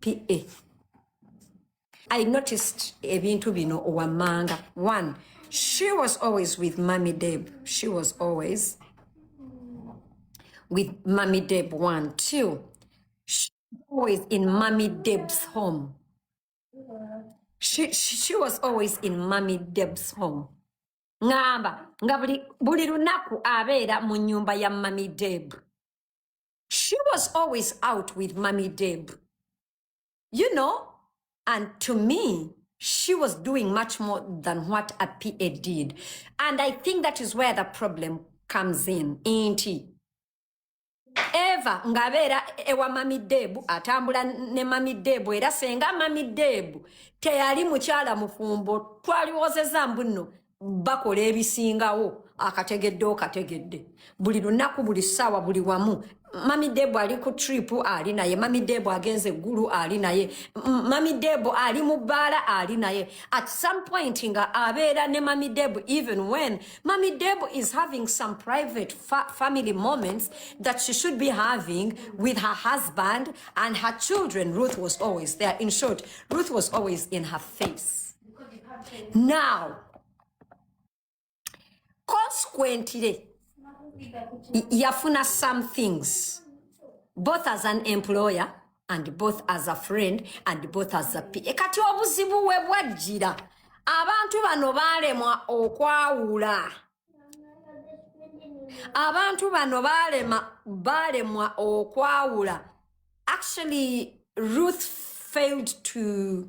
PA. I noticed ebintu bino wamanga. One, she was always with Mami Deb. She was always with Mami Deb. One, two, she was always in Mami Deb's home. She, she, she was always in Mami Deb's home. Ngamba, nga buli, buli lunaku abeera mu nyumba ya Mami Deb. she was always out with mommy deb you know and to me she was doing much more than what a pa did and i think that is where the problem comes in inti eva ngabeera ewa mami debu atambula ne mami debu era senga mami debu teyali mukyala mufumbo twaliwozeza mbuno bakola ebisingawo akategedde okategedde buli lunaku buli ssaawa buli wamu mami debo ali ku trip ali naye mami debo agenze eggulu ali naye mami debo ali mu bbaala ali naye at some point nga abeera ne mami debo even when mami debo is having some private fa family moments that she should be having with her husband and her children ruth was always there in short ruth was always in her face now consequently yafuna some things both as an employer and both as a friend and both as a p kati obuzibu we bwajjira abantu bano baalemwa okwawula abantu bano baalema baalemwa okwawula actually ruth failed to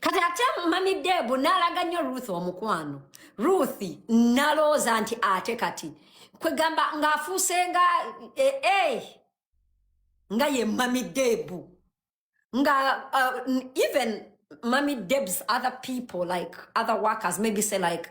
kati ate mami debu n'alaga nnyo ruth omukwano ruth nalooza nti ate kati kwegamba ng'afuuse nga ee eh, eh, nga ye mami debu nga uh, even mami debs other people like other workers maybe say like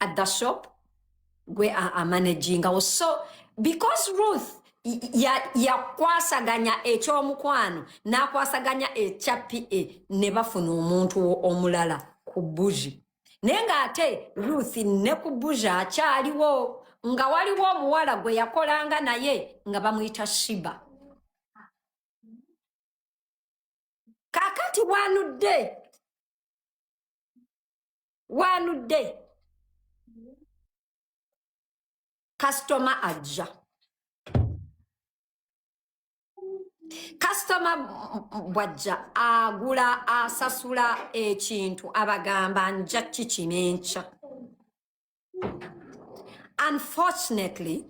at the shop gwe a- amanagingawo so because ruth y- ya- yakwasaganya ekyomukwano n'akwasaganya ekya pa ne bafuna omuntu wo- omulala ku buji naye ng'ate ruth ne ku buji akyaliwo nga waliwo omuwala gwe yakolanga naye nga bamuyita shiba kakati wanudde one day customer ajja kasitoma bwajja agula asasula ekintu abagamba nja kiki nenkya unfortunately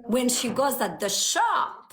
when she goes at the shop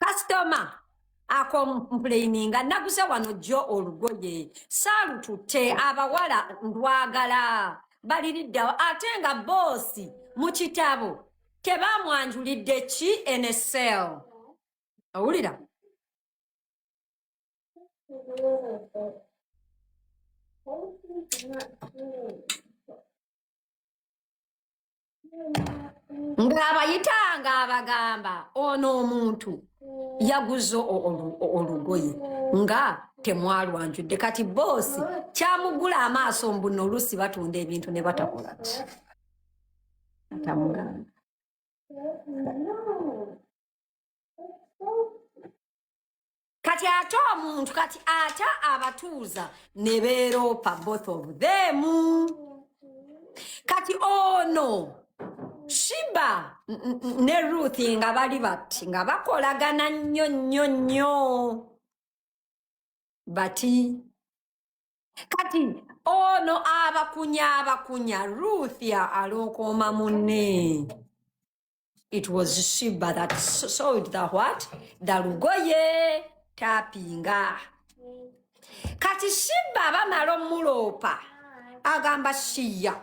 kasitoma ako mpuleyininga naguze wano jjo olugoye saalututte abawala ndwagala baliriddawo ate nga boosi mu kitabo tebamwanjulidde ki nsl owulira ng'abayitanga abagamba ono omuntu yaguze olugoye nga temwalwanjudde kati boosi kyamugula amaaso mbuno oluusi batunda ebintu ne batakola ki atamugamba kati ate omuntu kati ate abatuuza ne beeroopa both of them kati ono oh shiba ne ruth nga bali bati nga bakolagana nnyo nnyo nnyo bati kati ono abakunya abakunya ruth alookooma munne it was shiba that sold the what the lugoye tapinga kati shiba bamala omuloopa agamba shiya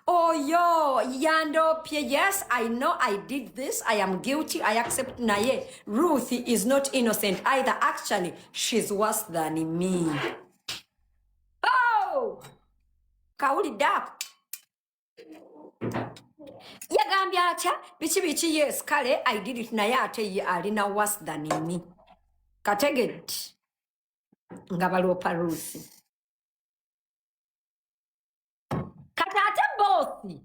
oyo yandopye yes i know i did this i am guilty i accept naye ruth is not innocent either actually she's worse than me oh! kawulidde ako yagambye atya biki biki yes kale i did it naye ate ye alina worse than me kategedde nga baloopa ruusi kati ate boosi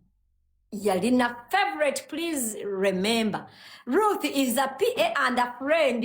yalina favorite please remember ruth is a pa and a friend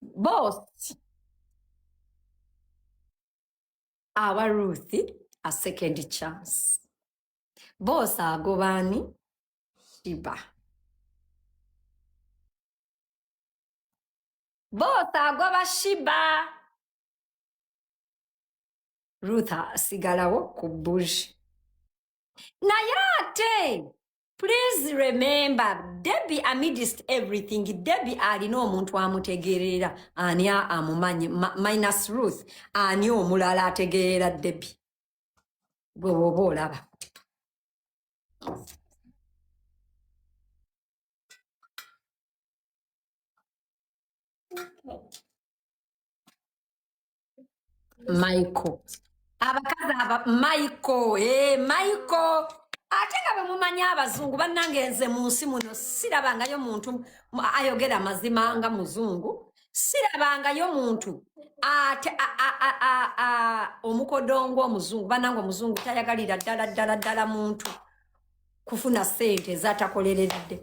both aba ruth a second chance both agobani shiba both agoba shiba ruth asigalawo ku bush naye ate Please remember Debbie amidst everything Debbie alina omuntu amutegeerera ani amumanyi minus Ruth ani omulala ategeerera Debbie gwe woba olaba michael abakazi aba michael e michael ate nga bwe mumanyi abazungu bannange nze mu nsi muno sirabangayo muntu mu- ayogera amazima nga muzungu sirabangayo muntu ate a- a- a- a- a- omukodongo omuzungu bannange omuzungu tayagalira ddala ddala ddala muntu kufuna sente ezatakoleredde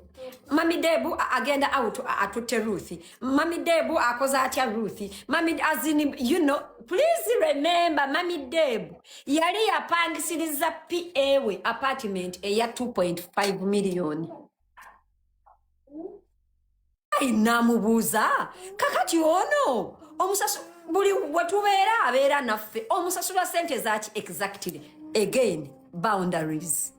mami debu agenda out atutte ruth mami debu akoze atya ruth mami azini you know please remember mami debu yali yapangisiriza pa we apartment eya 2.5 million namubuuza kakati ono omusasu buli wetubeera abeera naffe omusasula sente zaki exactly again boundaries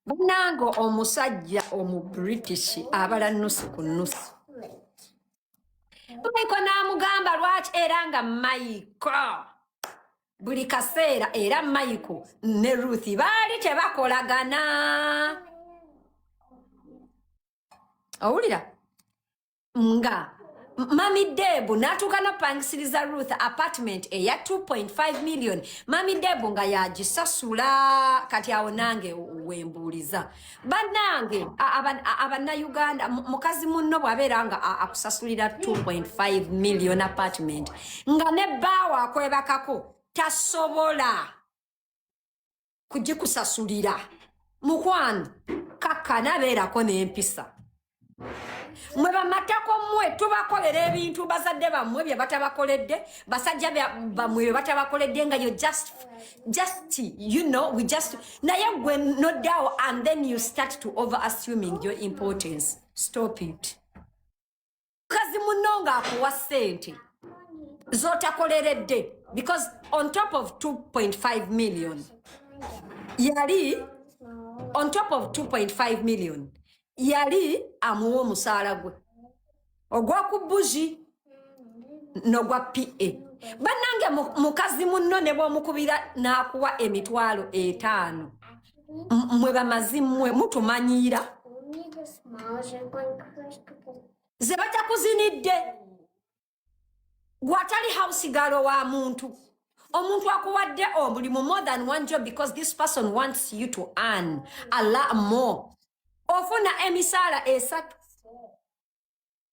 banange omusajja omu british abala nusu ku nusu maiko n'amugamba lwaki era nga maiko buli kaseera era mayiko ne ruth baali tebakolagana owulira nga mami debu natuuka napangisiriza ruth apartment eya 2.5 million mami debu nga yagisasula kati awo nange wembuuliza bannange abannayuganda mukazi munno bw'abeera nga akusasulira 2.5 million apartment nga ne bbaawo akwebakako tasobola kugikusasulira mukwano kakkana beerako n'empisa mwe bamatako mwe tubakolera ebintu bazadde bammwe bye batabakoledde basajja bammwe bye batabakoledde nga yo just just you know we just naye gwe noddawo and then you start to over assuming your importance stop it mukazi munno ng'akuwa ssente z'otakoleredde because on top of 2.5 million yali on top of 2.5 million yali amuwa omusaala gwe ogw'oku buzi n'ogwa pa bannange mukazi munno ne bw'omukubira n'akuwa emitwalo etaano mwe bamazi mwe mutumanyiira ze batakuzinidde gwatali house galo wa muntu omuntu akuwadde omulimu more than one job because this person wants you to earn a lot more ofuna emisaala esatu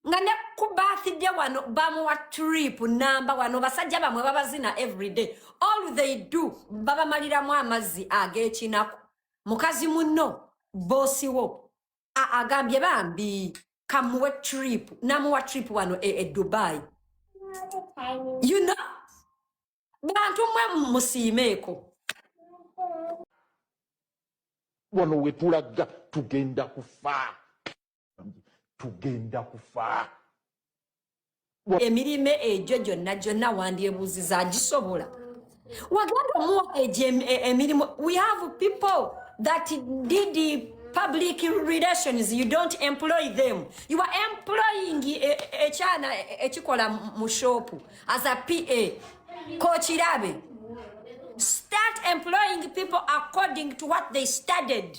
nga ne ku birthday wano bamuwa trip namba wano basajja bamwe babazina everyday all they do babamaliramu amazzi ag'ekinaku mukazi munno bosi wo agambye bambi kamuwe trip namuwa trip wano e, e dubai you know bantu mwe musiimeeko wano wetulaga tugenda kufaa tugenda kufa emirime egyo gyonna gyonna wandyebuuziza agisobola wagenda omuwa egyo emirimu we have people that did public relations you don't employ them you are employing ekyana ekikola mu shopu as a pa kokirabe start employing people according to what they studied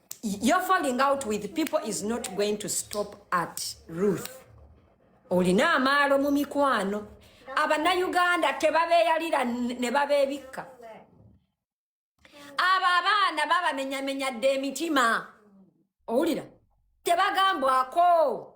your falling out with people is not going to stop at Ruth. Olina amaalo mu mikwano. Abanayuganda tebabeeyalira ne babeebikka. Abo abaana babamenyamenya dda emitima. Owulira? Tebagambwako.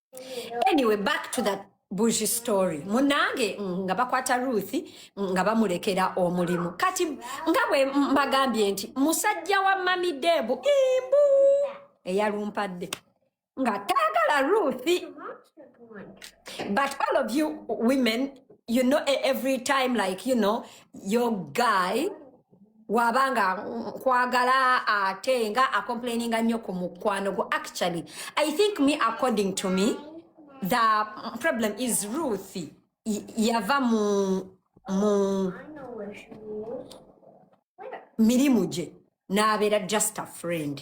anyway back to that buji story munange mm, nga bakwata ruth mm, nga bamulekera omulimu kati nga bwe mbagambye nti musajja wa mami debu imbu eyalumpadde nga taagala ruth but all of you women you know e, every time like you know your guy waba nga nkwagala ate nga acomplaininga nnyo ku mukwano gwo actually i think me according to me the problem is ruth y- yava mu mu mirimu gye n'abeera just a friend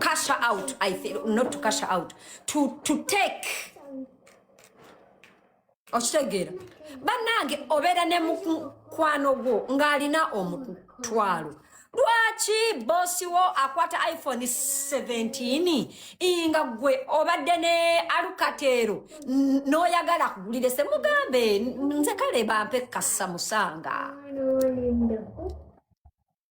cash her out. I think not to cash her out. To to take. Okitegera. Banange obera ne mukwano gwo ngalina omutwalo. Lwaki bosi wo akwata iPhone 17 inga gwe obadde ne alukatero noyagala kugulire se mugambe nze kale bampe kassa musanga.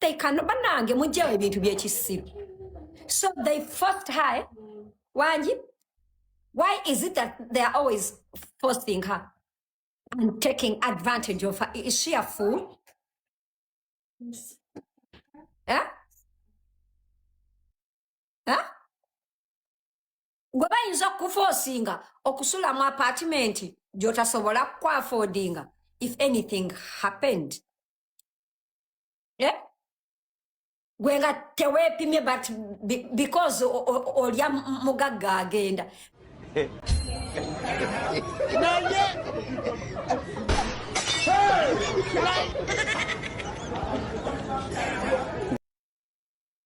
they can banange mujjewo ebintu byekisiru so they forced her eh? wangi why is it that they are always forcing her and taking advantage of her is she a fool eh? Eh? gwe bayinza okukufosinga okusula mu apatimenti gyotasobola kukwafodinga if anything happened eh? gwe nga teweepimye but because olya mugagga agenda naye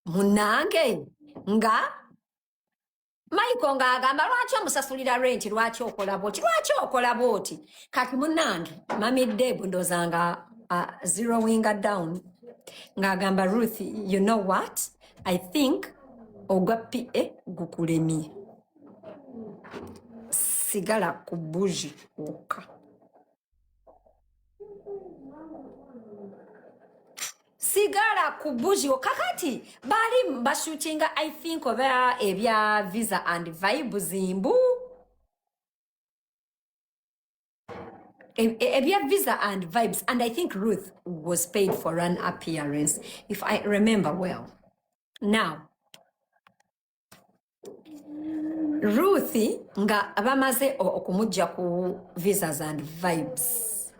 munange nga Michael nga agamba lwaki omusasulira renti lwaki okola bwoti lwaki okola bwoti kati munange mami deb ndoza nga uh, zero winga down ng'agamba ruth you know what i think ogwa pa eh, gukulemye sigala ku buji wokka sigala ku buzio kakati bali bashootinga i think oba ebya visa and vibe zimbu E- e- ebya visa and vibes and i think ruth was paid for an appearance if i remember well now Ruth nga bamaze okumujja ku visas and vibes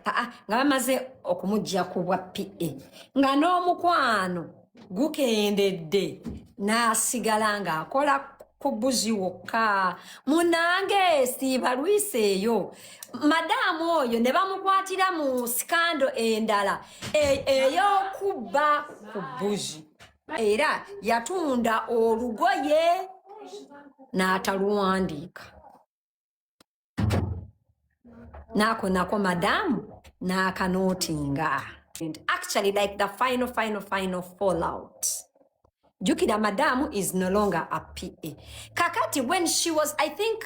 ah, ah, nga bamaze okumujja ku bwa PA nga n'omukwano gukendedde n'asigala ng'akola kubuzi wokka munange siibalwisa eyo madaamu oyo ne bamukwatira mu sikando endala e, ey'okubba ku buzi era yatunda olugoye n'ataluwandiika naako nako madamu n'akanootinga and actually like the final final final fallout jukira madamu is no longer a pa kakati when she was i think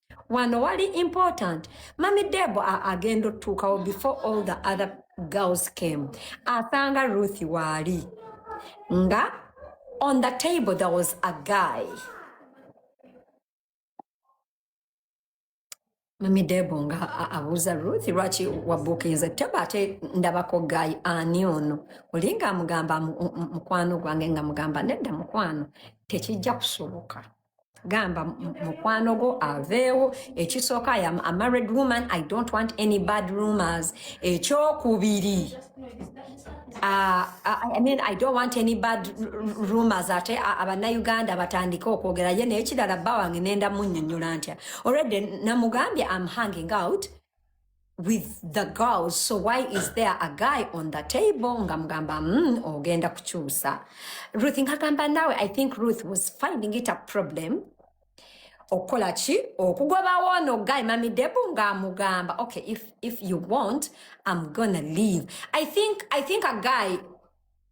wano wali important mami debo agenda otuukawo before all the other girls came asanga ruth waali nga on the table there was a guy mami debo nga abuuza ruth lwaki wabukinze teba ate ndabako guy ani ono olinga amugamba mukwano gwange nga mugamba nedda mukwano tekijja kusoboka gamba mukwano gwo aveewo ekisooka i am a married woman i don't want any bad rumors ekyokubiri uh, uh, i mean i don't want any bad rumors ate uh, abanauganda batandike okwogera ye naye kirala bba wange nenda munyonyola ntya already namugambye am hanging out with the girls so why is there a guy on the table nga mugamba mm, ogenda kukyusa ruth nkagamba nawe i think ruth was finding it a problem okukola ki okugobawo ono guy mami debu ng'amugamba okay if, if you want i'm gonna leave i think, I think a guy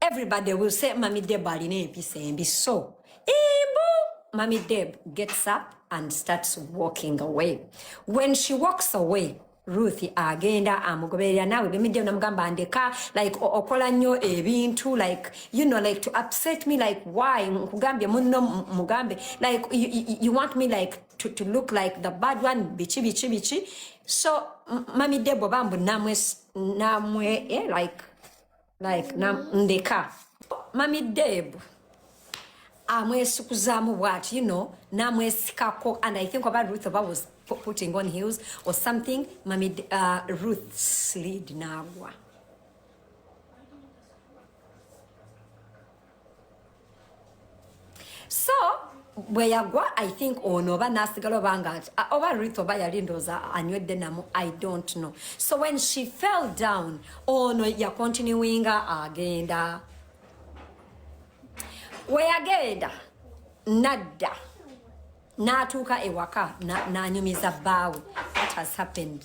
everybody will say mami deb alina empisa embi so imbu mami deb gets up and starts walking away when she walks away ruth agenda amugoberera naawe bemidde namugamba ndeka like okola nnyo ebintu like you know like to upset me like why nkugambye munno mugambe like you, you, you want me like to, to look like the bad one biki biki biki so mami debo bambu namwe namwe eh, like like na ndeka mami deb amwesikuzaamu bwati you know namwesikako and i think oba ruth oba was putting on hills or something mami uh, ruth slid nagwa so bwe yagwa i think ono oba nasigala oba nga oba rit oba yali ndooza anywedde namu i don't know so when she fell down ono yakontinuinga agenda weyagenda nadda n'atuuka ewaka n'anyumiza bbaawe what has happened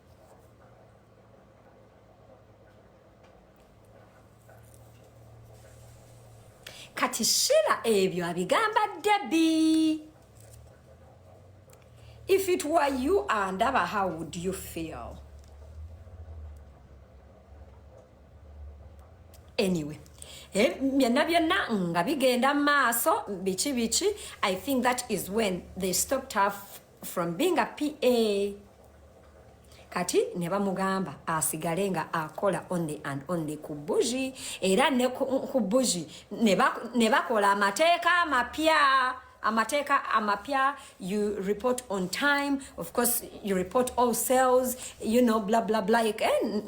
kati shira ebyo abigamba debi if it were you andaba how would you feel anyway eh, byonna byonna nga bigenda mu maaso biki biki i think that is when they stopped have from being a PA kati ne bamugamba asigale nga akola only and only ku buji era ne ku buji ne bakola amateeka amapya amateeka amapya you report on time of course you report all sales you know bla bla bla eh,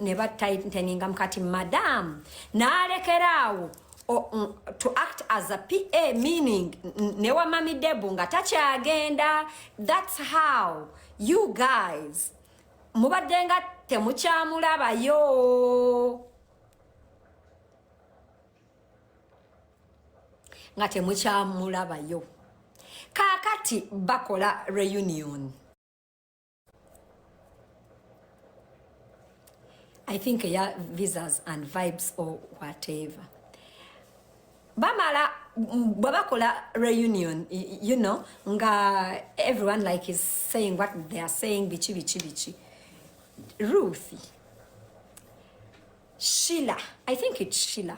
ne batighteninga mukati madam nalekeraawo Oh, mm, to act as a PA meaning ne wa mami Debu nga takyagenda that's how you guys mubadde nga temukyamulabayo nga temukyamulabayo kakati bakola reunion i think ya visas and vibes or whatever bamala bwe bakola reunion you know nga everyone like is saying what they are saying biki biki biki ruth shila i think it's shila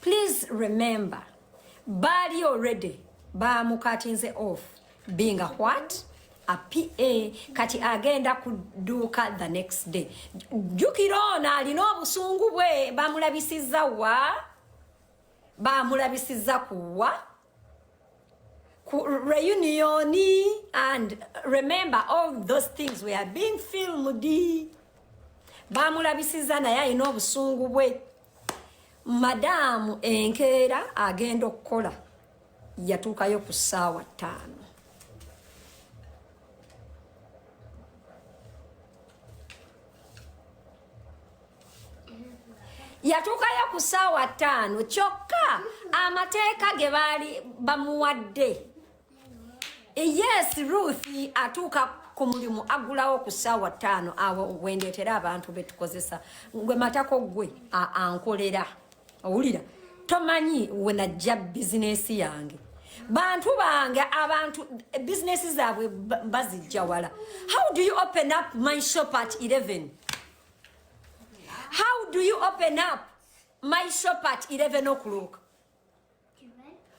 please remember baali already bamukatinze off being a what a pa kati agenda kuduuka the next day jukira ono alina obusungu bwe bamulabisiza wa bamulabisiza kuwa reunion and remember all those things we are being filmed bamulabisiza naye alina obusungu bwe madaamu enkeera agenda okukola yatuukayo ku ssaawa ttaano yatuukayo ku ssaawa ttaano kyokka amateeka ge baali bamuwadde yes ruth atuuka ku mulimu agulawo ku ssaawa ttaano awo wendeetera abantu betukozesa gwe matako gwe ankolera owulira tomanyi wenajja bizinesi yange bantu bange abantu bizinesi zaabwe bazijja wala how do you open up my shop at 11 how do you open up my shop at 11 o'clock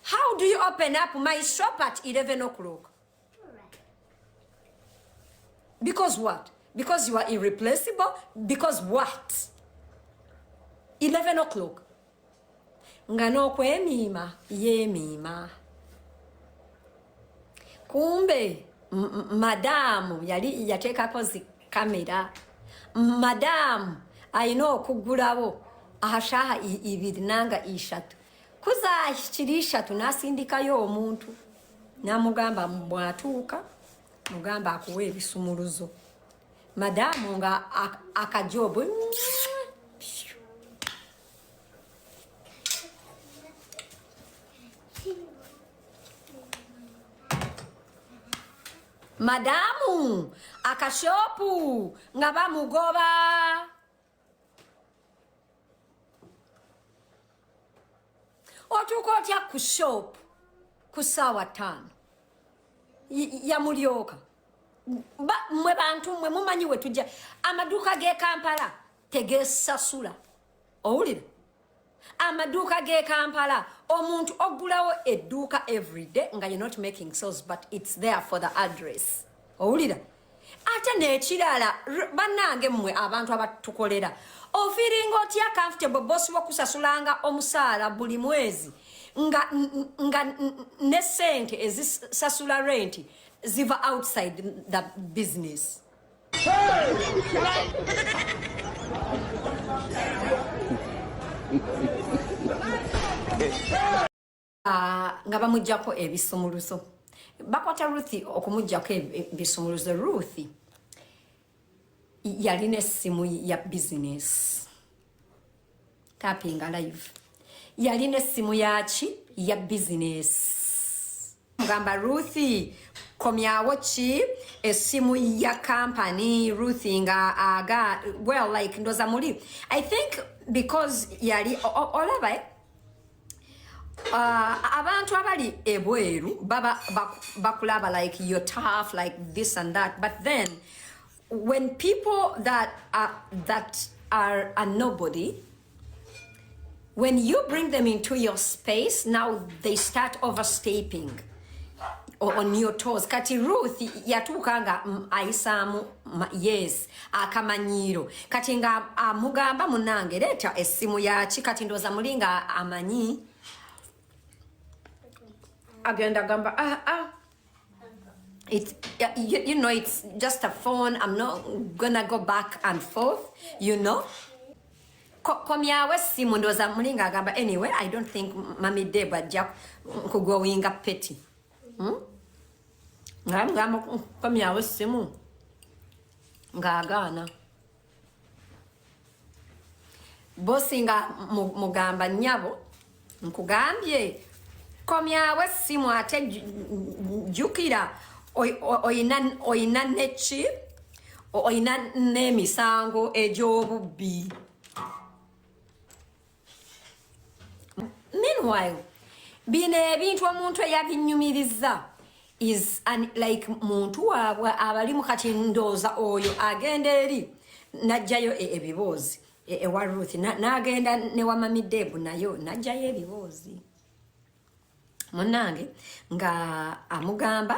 How do you open up my shop at 11 o'clock? Because what? Because you are irreplaceable? Because what? 11 o'clock. Nga nokwemiima yemiima. Kumbe madamu yali yateekako zi kamera. Madamu alina okugulawo ashaha ibiri nanga ishatu. kuza kiri ishatu nasindikayo omuntu namugamba bwatuuka mugamba akuwa ebisumuluzo madamu nga akajobu madamu akashopu nga bamugoba otuuka otya ku shop ku saawa taano yamulyoka mwe bantu mwe mumanyi wetujja amaduuka g'ekampala tegesasula owulira amaduuka g'e kampala omuntu oggulawo edduuka everyday nga you're not making sales but it's there for the address owulira ate nekirala bannange mmwe abantu abatukolera ofiringa otya comfortable bosi wokusasulanga omusaala buli mwezi nga, nga ne sente ezisasula renti ziva outside the business Ah, nga bamugyako ebisumuluzo bakwata ruth okumugyako ebisumuluzo ruth yalina essimu ya bizinesi tapinga live yalina essimu yaki ya bizinesi mugamba ruthi komyawo ki essimu ya kampani ruthi nga aga well like ndoza muli i think because yali olaba eh? uh, abantu abali ebweru baba bakulaba like your tough like this and that but then when people that are, that are a nobody when you bring them into your space now they start overstepping on your toes kati ruth yatuuka nga mm, ayisaamu yes akamanyiiro kati nga amugamba munange leeta essimu yaki kati ndooza muli nga amanyi agenda gamba ah, ah. it's yeah, you, you know it's just a phone i'm not gonna go back and forth you know Ko- komyawo essimu ndowooza mulinga agamba anyway i don't think mami deb ajja nkugowinga peti Hmm? nga mugamba komyawo essimu ng'agaana bosinga mugamba nyabo nkugambye komyawo essimu ate jukira oyina neki oyina n'emisango egy'obubbi meanwhile bino ebintu omuntu eyabinyumiriza is an, like muntu waabwe abalimu kati ndooza oyo agenda eri najjayo e, ebiboozi e, ewa ruth nagenda newamamidebu nayo najjayo ebiboozi munange nga amugamba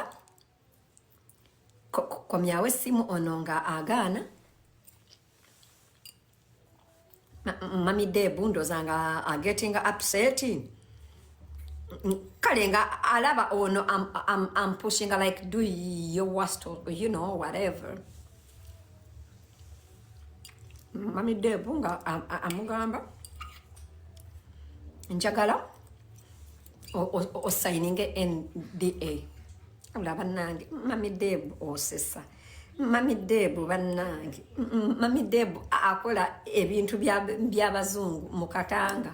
komyawo essimu ono nga agaana mami debu ndoza nga ageting uh, upset kale nga alaba ono am, am, am pushing like do your worst you know whatever mami debu nga amugamba njagala osayininge nda Wabula bannange mami Deebu osesa mami Deebu bannange mami Deebu akola ebintu by'abazungu mu Katanga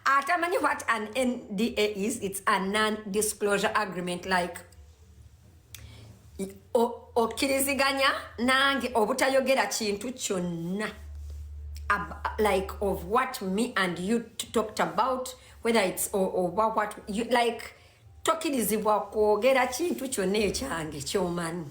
atamanyi what an NDA is it's a non-disclosure agreement like okkiriziganya nange obutayogera kintu kyonna like of what me and you talked about whether it's oba what you, like tokirizibwa kwogera kintu kyonna ekyange kyomanyi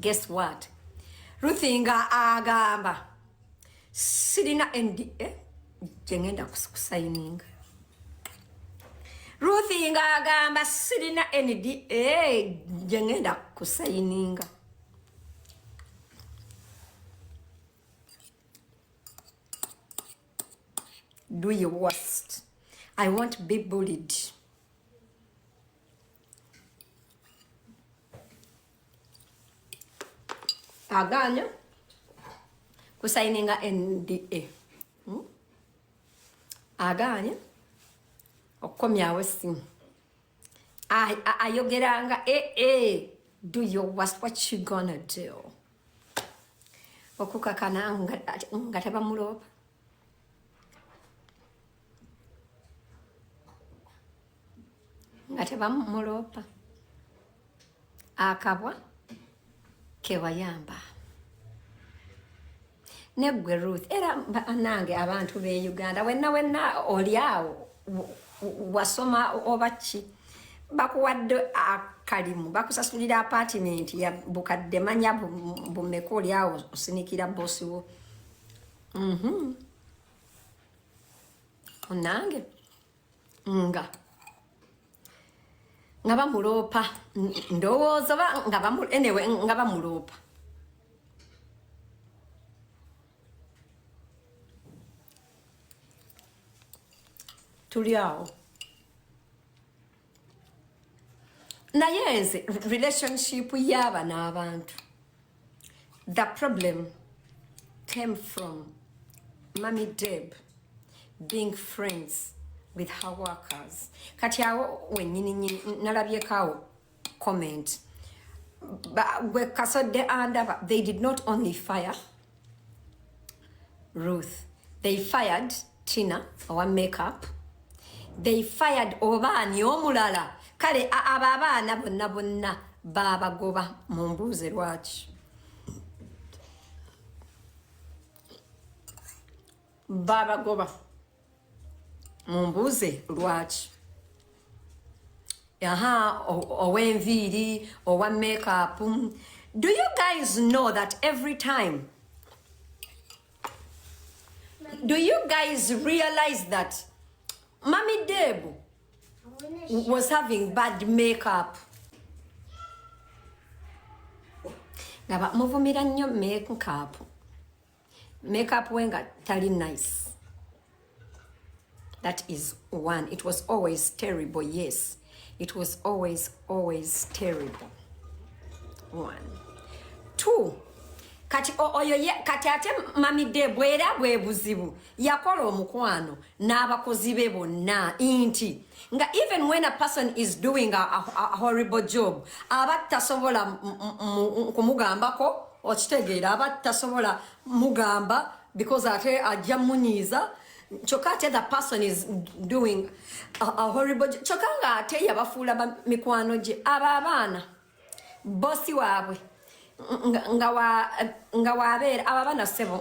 guess what ruthi nga agamba sirina nda eh, gyengenda kusayininga ruthi nga agamba sirina nda eh, gyengenda kusayininga do your worst i won't be bullied aganya kusayininga nda hmm? aganya okukomyawo esimu ayogeranga ee eh, eh, do your worst what you gonna do okukakana nga tebamuloopa nga tebamumuloopa akabwa kewayamba neggwe ruth era nange abantu be uganda wenna wenna oli awo wasoma oba ki bakuwadde akalimu bakusasulira apatimenti bukadde manya bumeka oli awo osinikira bosiwo mm -hmm. nange nga nga bamuloopa ndowooza oba nga bamu anyway nga bamuloopa tuli awo naye nze relationship yaaba n'abantu the problem came from mummy deb being friends with her workers kati awo wenyininyini nalabyeko awo comment gwe kasodde andaba they did not only fire Ruth. They fired Tina, our makeup. They fired Obani Omulala. Kale ababa na bonna bonna baba goba mumbuze lwachi. Baba goba. mumbuuze lwaki aha owenviiri owa makeup do you guys know that every time do you guys realize that mami debu was having bad makeup nga bamuvumira nnyo makeup makeup we nga tali nice that is one it was always terrible yes it was always always terrible one two kati oyo ye kati ate mami de bwera bwe buzibu yakola omukwano n'abakozi be bonna inti nga even when a person is doing a, a, a horrible job aba tasobola kumugambako okitegeera aba tasobola mugamba because ate ajja munyiiza kyokka ate the person is doing a, a horrible job kyokka nga ate yabafuula mikwano gye aba abaana bosi waabwe nga wabeera aba bana sebo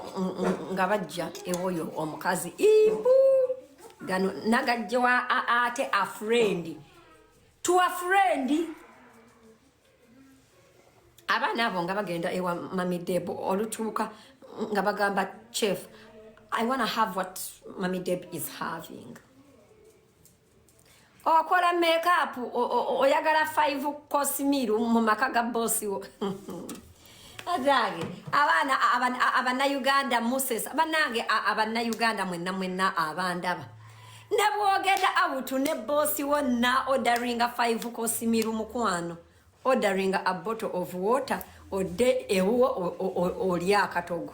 nga bajja ewoyo omukazi ibu gano nagajjewa ate afrendi tuwa frendi abaana abo nga bagenda ewa mamideb olutuuka nga bagamba chef i wanna have what mamideb is having okola makeup oyagala 5 course meal mu maka ga boss wo Adage abana abana Uganda Moses abanange abana Uganda mwenna mwenna abandaba nebwogenda out ne boss wo na ordering 5 course meal mukwano ordering a bottle of water ode ewo oli akatogo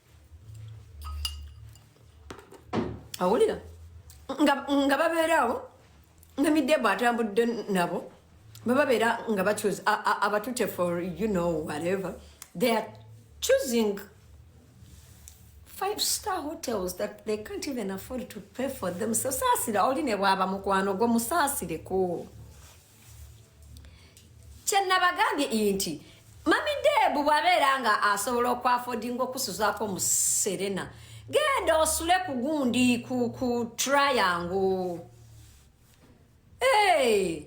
awulira nga babeeraawo nga midebu atambudde nabo bababeera nga bacuze abatute for you know whatever they are choosing five star hotels that they can't even afford to pay for them so saasira oli ne bwaba mukwano gwo musaasireko kyenabagambye inti mami debu bwabeera nga asobola okwafodinga okusuzaako mu serena genda osule ku gundi ku ku triango hey,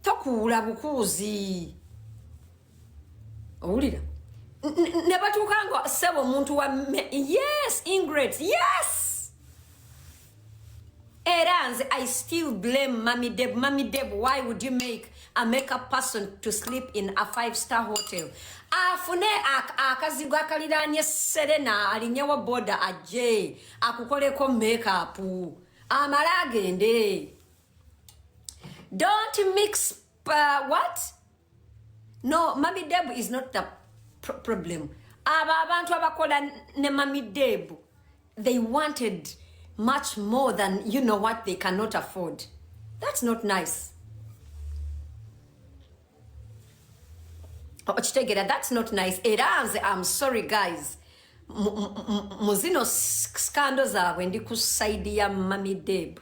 tokuula bukuuzi owulira ne batuuka nga sebo omuntu wa yes ingret yes era nze i still blame mami deb mami deb why would you make a makeup person to sleep in a five star hotel afune akazigo akaliraanye serena alinyewo boda ajje akukoleko makeup amale agende don't mix uh, what no mami debu is not the pr problem abo abantu abakola ne mami debu they wanted much more than you know what they cannot afford that's not nice okitegera oh, that's not nice era nze am sorry guys mu zino scando zaabwe ndi ku saidi ya mami debu